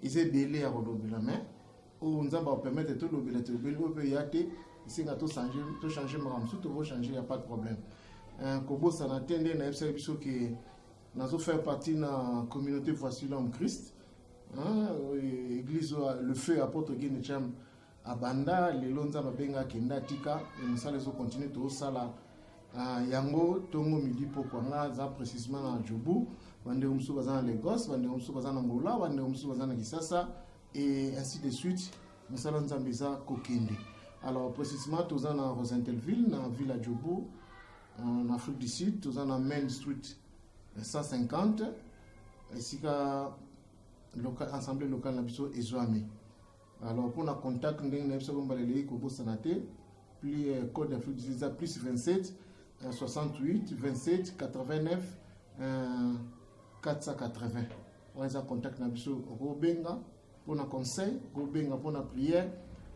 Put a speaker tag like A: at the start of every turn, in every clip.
A: eza ebele ya kolobela mais oyo nzambe akopermettre tolobela tolobeli oyo mpe ya te esenga tochange makambo mosusu tokochange ya pas de problème euh, kobosana te nde nayebisaki biso ke nazo faire partie na communauté voici l'homme christ hein, église le feu apôtre gene cham abanda lelo nzambe abenga akenda atika mosala ezo continue tosala Ah, yango ntongo midi pokwa nga aza précisement na jobu bandeko mosusu baza na lagos bandeko mosusu baza na ngola bandeko mosusu baza na kisasa et ainsi de suite mosala nzambe eza kokende alors précisement toza na rosentelville na ville ya jobu En Afrique du Sud, toza na Main Street 150 esika local, assemblée locale na biso ezwami. Alors pour na contact ndenge na biso ko mbaleli ko bosana te plus euh, code d'Afrique du Sud plus 27 euh, 68 27 89 euh, 480. On a contact na biso okobenga mpo na conseil kobenga mpo na prière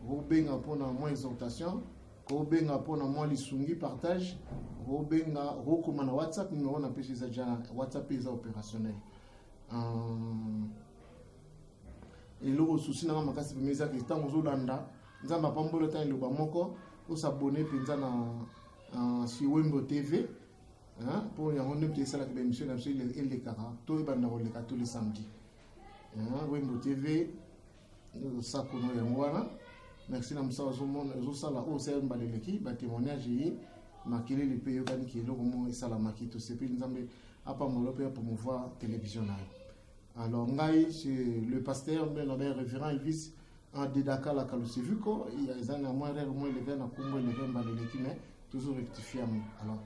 A: kobenga mpo na mwa exhortation kobenga mpo na mwa lisungi partage kobenga kokoma na whatsapp numero na pesi eza ja whatsapp mpe eza opérationnel euh, eloko susi nanga makasi pema ezaki ntango ozolanda nzambe apambola ntango eloba moko osabone mpenza na euh, sur wembo tv mpo yango nde mpe esalaka baemission na biso elekaka to ebanda koleka to le samedi wembo tv losako no yango wana merci na mosala ezosala oyo osali mbala eleki batémoignage ye makelele mpe eyokani ki eloko moko esalamaki tosepeli nzambe apambola mpe apromouvoir télévision na yo alors ngai le pasteur mbe nabe révérend elvis adedaka la kaluseviko eza na mwa rere mwa eleve na nkombo eleve mbala eleki mais tozo rectifie yango alors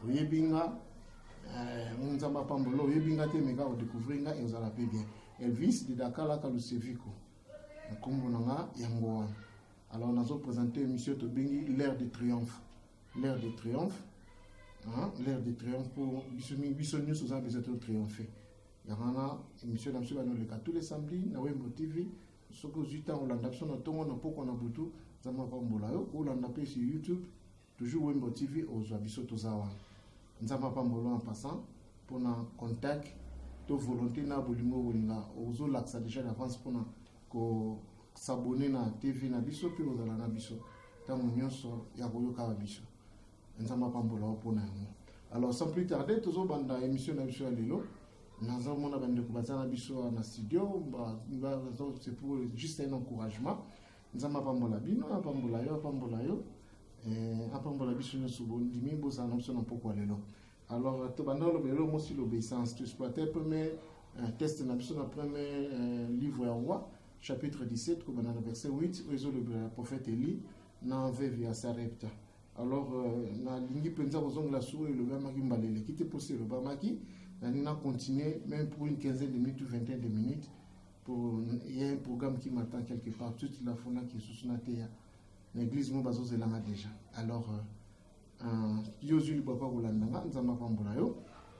A: oyebi nga eh, nzambe apambola oyebi nga te meka odécouvrir nga ezala mpe bien elvis de dakalaka luseviko nkombo na nga yango wana alors nazo présente émission tobengi l'air de triomphe l'air de triomphe l'air de triomphe mpo biso nyonso oza besoin to triomphe yango wana émission na biso banoleka tous les samedi na wembo tv soki ozwi ntango olanda biso na ntongo na mpokwa na butu nzambe apambola yo olanda mpe sur youtube Toujours Wembo TV ozwa biso toza wana. Nzambe apambolo en passant pona contact to volonté na bolingo bolinga ozolakisa déjà d'avance pona ko s'abonner na TV na biso mpe kozala na biso ntango nyonso ya koyokaka biso nzambe apambola yo mpo na yango alors sans plus tarder tozobanda émission na biso ya lelo naza komona bandeko baza na biso na studio c'est pour juste un encouragement nzambe apambola bino apambola yo apambola yo eh, apambola biso nyonso bondimi bozala na biso na mpokwa lelo alors tobanda oloba eloko mosi l'obéissance to exploite premier euh, test na biso na premier euh, livre ya roi chapitre 17 kobanda na verset 8 oyo ezolobela prophète eli na veve ya sarepta alors euh, nalingi mpenza kozongela suru elobamaki mbala eleki te mposa elobamaki nalingi na continuer même pour une quinzaine de minutes ou vingtaine de minutes pour il y a un programme qui m'attend quelque part tout la fona qui sous na teya na église mo bazo zelanga déjà alors euh, euh yo zui papa kolanda nga nzamba pambola yo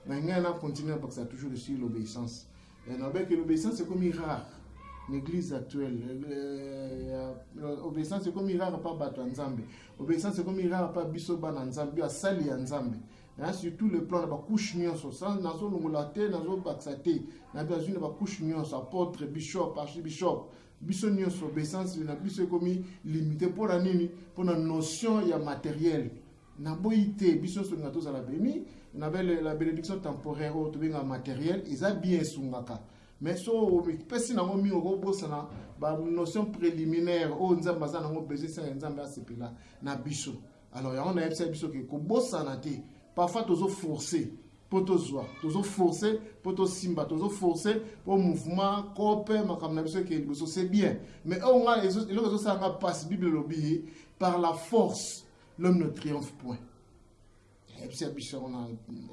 A: mais ngai na continuer parce que toujours ici l'obéissance et na que l'obéissance c'est comme rare l'église actuelle euh, euh, obéissance c'est comme rare pas bato nzambe obéissance c'est comme rare pas biso bana nzambe asali ya nzambe hein, sur tout le plan na bacouche nyonso nazolongola te nazobakisa te na bazwi na bacouche nyonso apôtre bishop archibishop biso nyonso obeissance na biso ekomi limite mpo na nini mpo na notion ya matériel naboyi te biso nyonso linga tozala beni na la bénédiction temporaire oyo tobenga matériel eza bien esungaka mais so omipesi nango mingi okobosana banotion préliminaire oyo nzambe aza nango besoin esala nzambe asepela na biso alors yango nayebisaki biso ke kobosana te parfois tozo force mpo tozwa tozo force mpo tosimba tozo force mpo mouvement cope makambo na biso ekende liboso c'est bien mais oyo nga eloko ezosala nga mpasi bible elobi ye par la force l'homme ne triomphe point yebisa biso yango na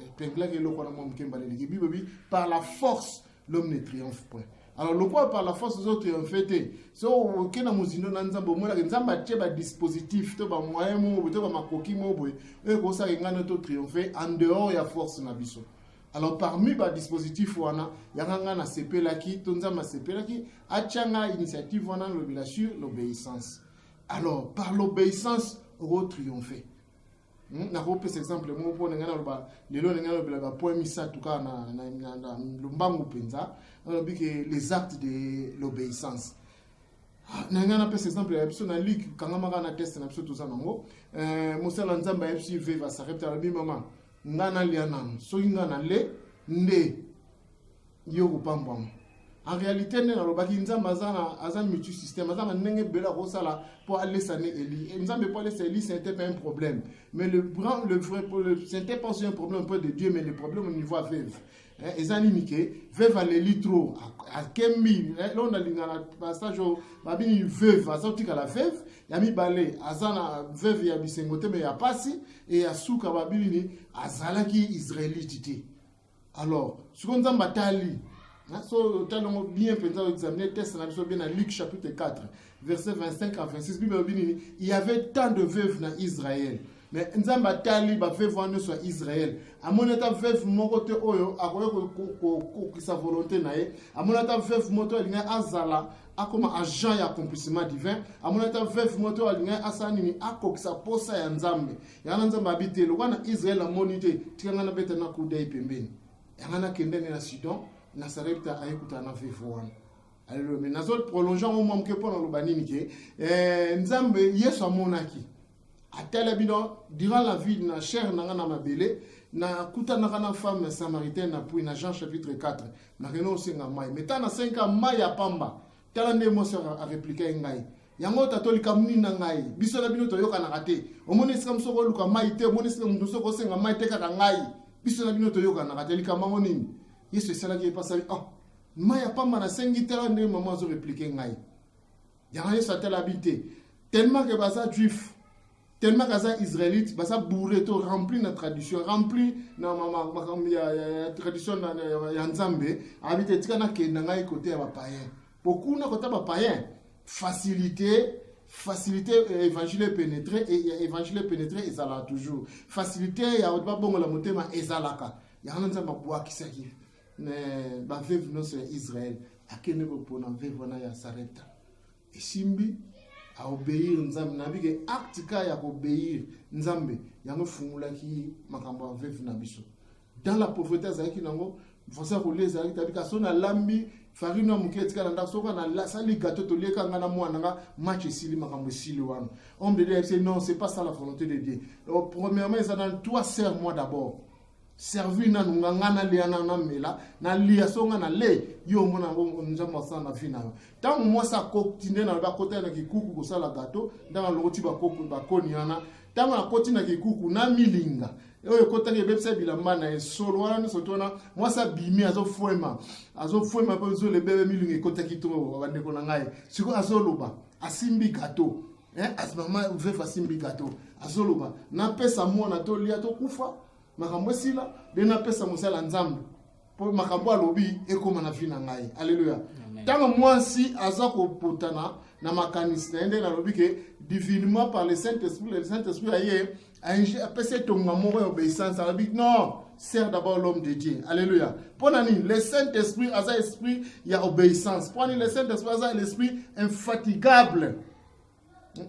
A: epenglaki eloko wana mwa moke mbala eleki bible elobi par la force l'homme ne triomphe point alors lokola par la force ozo triomphe te so oke na mozindo na nzambe omonaka nzambe atie badispositif to bamoyen moko boye to bamakoki moko boye oyo ekosaka engano to triomphe en dehors ya force na biso alors parmi badispositif wana yanga ngai nasepelaki to nzambe asepelaki atya ngai initiative wana nalobela sur l'obéissance alors par l'obéissance okotriomphe Hmm, nakopesa exemple moko mpo ndenge naloba lelo ndenge nalobela bapoint misato kaka na lombangu mpenza nalobi ke les actes de l'obéissance ah, na ngai napesa exemple ya biso na luke kangamaka na teste na biso toza nango eh, mosala nzambe ayebisi veva sarepta alobi mama ngai nalia nano soki ngai nale nde yo kopambwama en réalité nde nalobaki nzambe aza na aza multi système aza na ndenge ebele akosala mpo alesa ne eli eh, nzambe mpo alesa eli c'était pas un problème mais le grand le vrai le c'était pas un problème près de dieu mais le problème au niveau aveuve eh, eza nini ke veuve aleli trop akembi eh, loo nalinga na passage oyo babini veuve aza kotikala veuve ya mibale aza na veuve ya bisengo te me ya mpasi e ya suka babini azalaki israelite te alors sikoyo nzambe atali so otali yango bien mpenza oexamine test na biso bien na luc chapitre 4 verset 25 à 26 bible elobi nini il y avait tant de veuve na israël mais nzambe atali baveuve wana nyonso ya israel amoni ata veuve moko te oyo akoki kokokisa volonté na ye amoni ata veuve moko te oyo alingai azala akoma agent ya accomplissement divin amoni ata veuve moko te oyo alingai asala nini akokisa mposa ya nzambe yanga nzambe abi te lokola na israel amoni te tika ngai nabeta na kudai pembeni yanga nakenda nde na sudan na sarepta ayekutana na vefo wana aleluya me nazo prolonge yango mwa moke mpo naloba nini ke eh, nzambe yesu amonaki atala bino durant la vie na chair na ngai na mabele nakutanaka na femme samaritaine na puis na jean chapitre 4 nakende osenga mai me ntango nasengi ka mai ya pamba tala nde mwasi wana areplika ye ngai yango tato likambo nini na ngai biso na bino toyokanaka te omoni esika mosu okoluka mai te omoni esika moto mosu okosenga mai te kaka ngai biso na bino toyokanaka te likambo yango nini yesu esalaki ye mpasali oh ah, mai ya pamba nasengi tala ndenge mama azoreplike ngai yango yesu atalabi te tellement ke baza juif tellement kaza israélite baza bourre to rempli na tradition rempli na makambo ya tradition ya nzambe abi te tika nakenda ngai kote ya bapayen mpo kuna kota bapayen facilité facilité euh, évangile epénétré euh, évangile epénétré ezalaka toujours facilité ya babongola motema ezalaka yango nzambe abwakisaki baveve nyonso ya israel akende kopona veve wana ya sarepta esimbi a obeir nzambe nayebi ke acte ka ya kobeir nzambe yango efungulaki makambo ya veve na biso dans la pauvreté azalaki nango faso ya kolia ezalaki tabi kasi soki nalambi farine ya moke etikala ndako soki nasali gato tolieka ngai na mwana nga match esili makambo esili wana homme de dieu ayebisi non c'est pas ça la volonté de dieu Donc, premièrement eza nani toi serre moi d'abord servi nanu nga nga nalia na namela nalia so nga nale yo omona yango nzambe asala na vi na yo ntango mwasi akoti nde nalobi akotaki na kikuku kosala gato ntango alongoti bakoni wana ntango akoti na kikuku na milinga oyo ekotaki ebebisa bilamba na ye solo wana nyonso to wana mwasi abimi azofwema azofwema mpe zolo ebebe milinga ekotaki to bandeko na ngai sikoyo azoloba asimbi gato eh, as mama vefa simbi gato azoloba napesa mwana tolia tokufa makambo esila de napesa mosala nzambe mpo makambo alobi ekóma na vi na ngai alleluya ntango mwasi aza kopotana na makanisi na ye nde nalobi ke divinement par le saint esprit le saint esprit aye apesa etonga moko ya obeissance alobi non sert d'abord l'homme de dieu alleluya mpo na nini le saint esprit aza esprit ya obeissance mpo nini le saint esprit aza l'esprit infatigable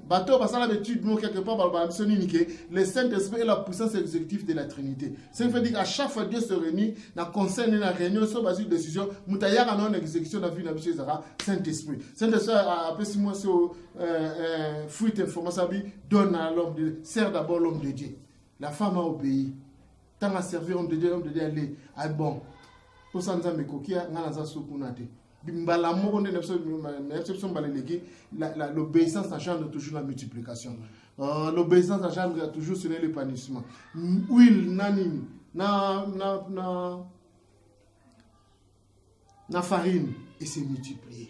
A: bato oyo basala baétude moko quelque part balobaka biso nini ke le saint esprit est la puissance exécutive de la trinité ce qui veut dire à chaque fois dieu se réunit na conseil ne na réunion so bazwi décision moto ayaka na yo na exécution na vie na biso ezalaka saint esprit saint esprit apesi mwasi oyo euh, euh, fuite information abi donne à l'homme de Dieu. sert d'abord l'homme de Dieu la femme a obéi ntango aservi homme de Dieu homme de Dieu ale ah bon mposa nzambe ekoki ngai naza so kuna te mbala moko nde na biso biso mbala eleki l'obéissance na genre toujours la multiplication euh, l'obéissance na genre ya toujours sene le panissement huile na nini na na na na farine et se multiplier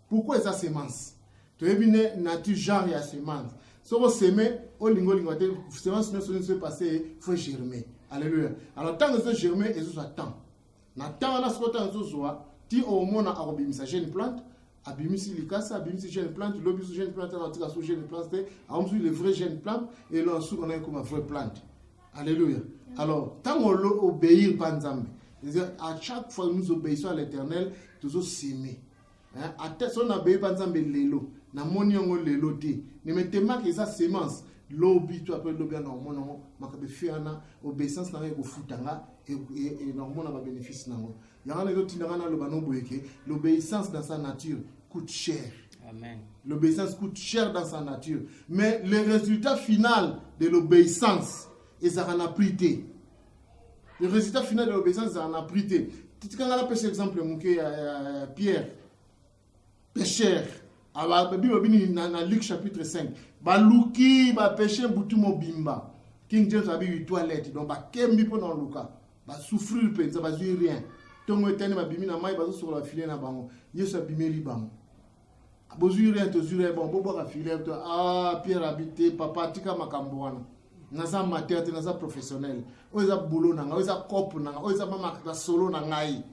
A: pourquoi eza semence toyebi ne nature genre ya semence soki oseme olingi olinga te semence nyonso nyonso epasse faut germe alleluia alors ntango ezo germe ezozwa temps na temps wana soki ntango ezozwa ti omona akobimisa jeune plante abimisi likasa abimisi jeune plante lobi so jeune plante atika so jeune plante te aomisi le vrai jeune plante elo suka na ekoma vrai plante alleluia alors ntango obeir mpa nzambe à chaque fois nous obéissons à l'éternel tozoseme eh, ata soki nabeyi mpa nzambe lelo namoni yango lelo te nemetemaka eza semence lobi to ape lobi ana omona yango makambo efi wana obeissance na ngai ekofuta nga e, e, e, nakomona babénéfice na yango yango wana ezotinda ngai naloba noboyeke l'obéissance dans sa nature coûte cher Amen.
B: L'obéissance coûte
A: cher dans sa nature. Mais le résultat final de l'obéissance, ils en a pris le résultat final de l'obéissance ezala na prix te tika ngai napesa exemple moke ya pierre pécheur babi babini na luc chapitre 5 baluki bapeshe butu mobimba king james abibi toilette donc bakembi mpo na oluka basouffrir mpenza bazwi rien ntongo etani babimi na mai bazosokola bafile na bango yesu abimeli bango bozwi rien tozwi rien bon bobwaka filer to ah pierre abite papa tika makambo wana naza amateur te naza professionnel oyo eza boulot na ngai oyo eza cope na ngai oyo eza mamakata solo na ngai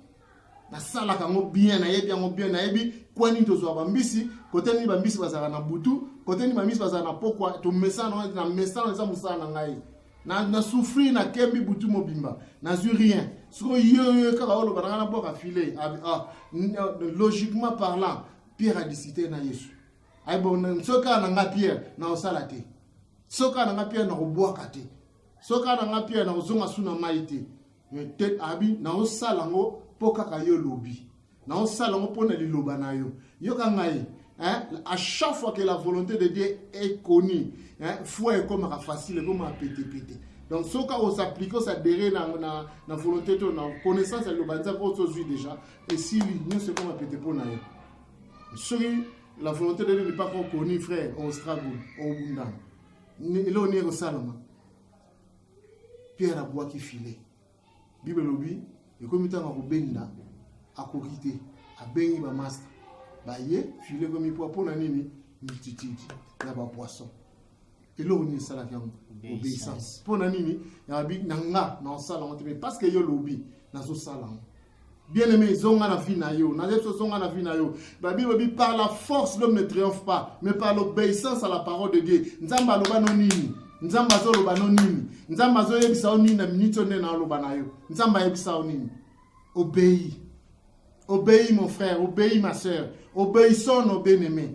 A: nasalaka yango bien nayebi yango bien nayebi kwa nini tozwa bambisi kote nini bambisi bazalaka na butu kote nini bambisi bazalaka na pokwa tomesana na mesana eza mosala na ngai na, na souffrir na kembi butu mobimba nazwi rien siko yoyo kaka oloba nanga nabwaka filet ah, ah, euh, logiquement parlant pierre adisite na yesu aybon soki kaka nanga pierre nakosala te soki kaka nanga pierre nakobwaka te soki kaka nanga pierre nakozonga su na mai te eh, te abi naosala yango mpo kaka yo olobi naosala yango mpo na liloba na yo yoka ngai Hein? À chaque fois que la volonté de Dieu est connue, hein, foi est comme facile, est comme pété pété. Donc, ce cas où s'applique, ça derrière na, na, na volonté, na connaissance, le banza, on se suit déjà. Et si l'union, c'est comme pété pour nous. Celui, la volonté de Dieu n'est pas encore connue, frère, on struggle, on bunda. Et là, on est au salama. pierre abwaki filet bible elobi ekomi ntango akobenda akoki te abengi bamasta baye filet ekomi mpo mpo na nini multitude na bapoisson eloko nini esalaki yango obeissance mpo na nini na nga naosala yango te mais parce que yo lobi nazosala yango Bien aimé, zonga na vie na yo. Nazebi so zonga na vie na yo. La Bible dit par la force l'homme ne triomphe pas, mais par l'obéissance à la parole de Dieu. Nzambe aloba no nini? Nzambe azoloba no nini? Nzambe azoyebisa yo nini na minute oyo nde na aloba na yo? Nzambe ayebisa yo nini? Obéis. Obéis mon frère, obéis ma sœur. Obéissons nos bien-aimés.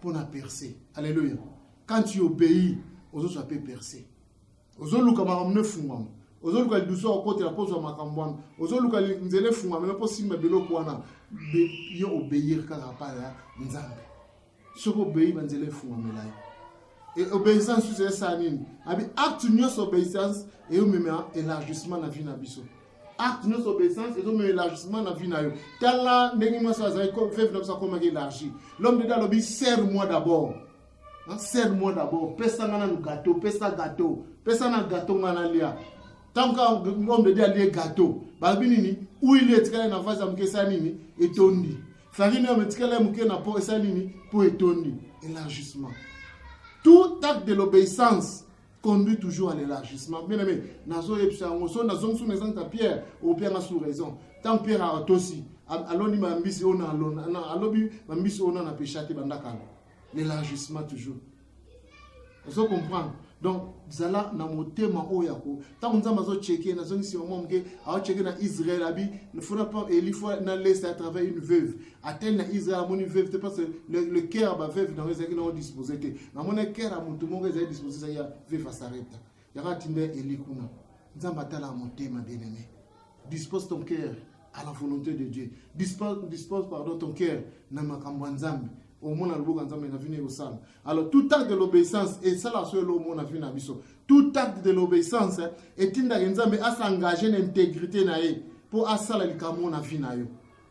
A: mpo na perce alleluya quand tu obéis ozozwa mpe perce ozoluka makambo no efungwama ozoluka lidusu akokotela mpo ozwa makambo wana ozoluka nzela efungwamela mpo simba biloko wana yo obeir kaka pa ya nzambe soki obei banzela efungwamela yo e obéissance susu esala nini abi acte nyonso obéissance eyomema élargissement na vie na biso acte nyonso obeissance ezomema élargissement na vie na yo tala ndenge mwasi azali veve na biso akomaki élargi l'homme de dieu alobi serre moi d'abord serre moi d'abord pesa nga nanu gateau pesa gateau pesa na gateau nga nalia ntango kaka homme de dieu alie gateau balobi nini huile etikali na vase ya moke esali nini etondi farine oyo etikali ya moke na po esali nini po etondi élargissement tout acte de l'obéissance conduit toujours à l'élargissement bien aimé nazoyebisa yango so nazongisi na ezanta pierre opianga sous raison ntango pierre atosi aloni bambisi oyo alobi bambisi oyo nana pecha te bandakala l'élargissement toujours ozo comprendre donc zala na motema oyo yako ntango nzambe azocheke nazongisi yango moke aocheke na israel abi fona pa elifo na leste à travers une veuve atteindre na Israël amoni veuve te parce que le, le cœur ya baveuve nango ezalaki nango dispose te namona cœur ya motu moko ezali dispose ezali ya veuve asareta yango atinda eli kuna nzambe atala motema bien aimé dispose ton cœur à la volonté de Dieu dispose, dispose pardon ton cœur na makambo ya nzambe omona loboko ya nzambe na vino ekosala alors tout acte de l'obéissance esala so elo omona vino na biso tout acte de l'obéissance etindaka nzambe asengage na intégrité na ye mpo asala likambo na vi na yo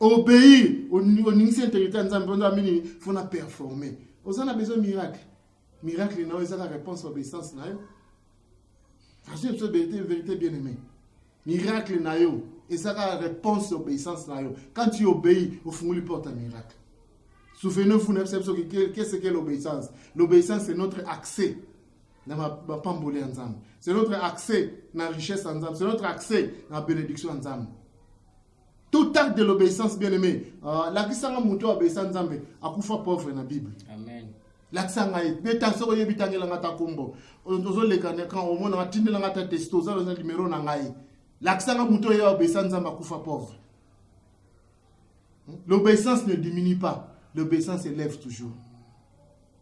A: obeir oningisi intégrité ya nzambe mponza minini fo na performe oza na besoin miracle miracle na yo eza na réponse ya obéissance na yo azwi biso verité verité bien aimé miracle na yo eza kaka réponse ya obéissance na yo quand tu obéis ofungoli porte ya miracle souvenez-vous na biso biso qu'est-ce que l'obéissance l'obéissance c'est notre accès na bapamboli ya nzambe c'est notre accès na richesse ya nzambe c'est notre accès na bénédiction ya nzambe tout acte de l'obéissance bien aimé uh, lakisanga moto oyo abeisa nzambe akufa pauvre na bible amen lakisa ngai mpe ta soki oyebi tangelanga ta nkombo ozoleka omona atindelanga ta testo oza oza limero na ngai lakisa ngai moto oyo obesa nzambe akufa pauvre hmm? l'obéissance ne diminue pas l'obéissance élève toujours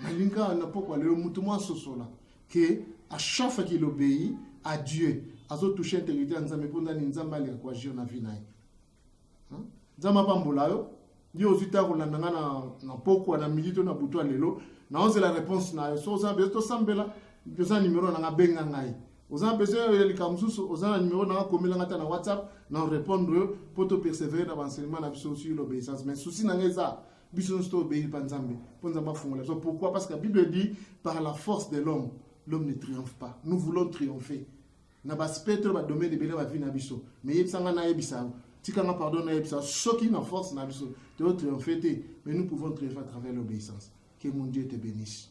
A: Nalinga na pokwa lelo mutu mwa sosola que à chaque fois qu'il obéit à Dieu azo toucher intégrité ya Nzambe mpo ndani Nzambe aleka koagir na vie na ye. Hein? Nzambe apambola yo yo ozwi ntango kolanda ngai na, na pokwa na midi to na butu ya lelo naozela réponse na yo so oza na besoin tosambela oza na nimero na ngai benga ngai oza na besoin ya likambo mosusu oza na nimero na ngai komela ngai ata na whatsapp na répondre yo mpo topersévere na baenseignement na biso sur l'obéissance mais souci na ngai eza biso nyonso tobeli mpa nzambe mpo nzambe afungola biso pourquoi parce que bible dit par la force de l'homme l'homme ne triomphe pas nous voulons triompher na baaspect to badomaine ebele bavi na biso mais yebisa ngai nayebisa yango tika nga pardon nayebisa soki na force na biso toyo triomphe te mais nous pouvons triomphe à travers l'obéissance que mon dieu te bénisse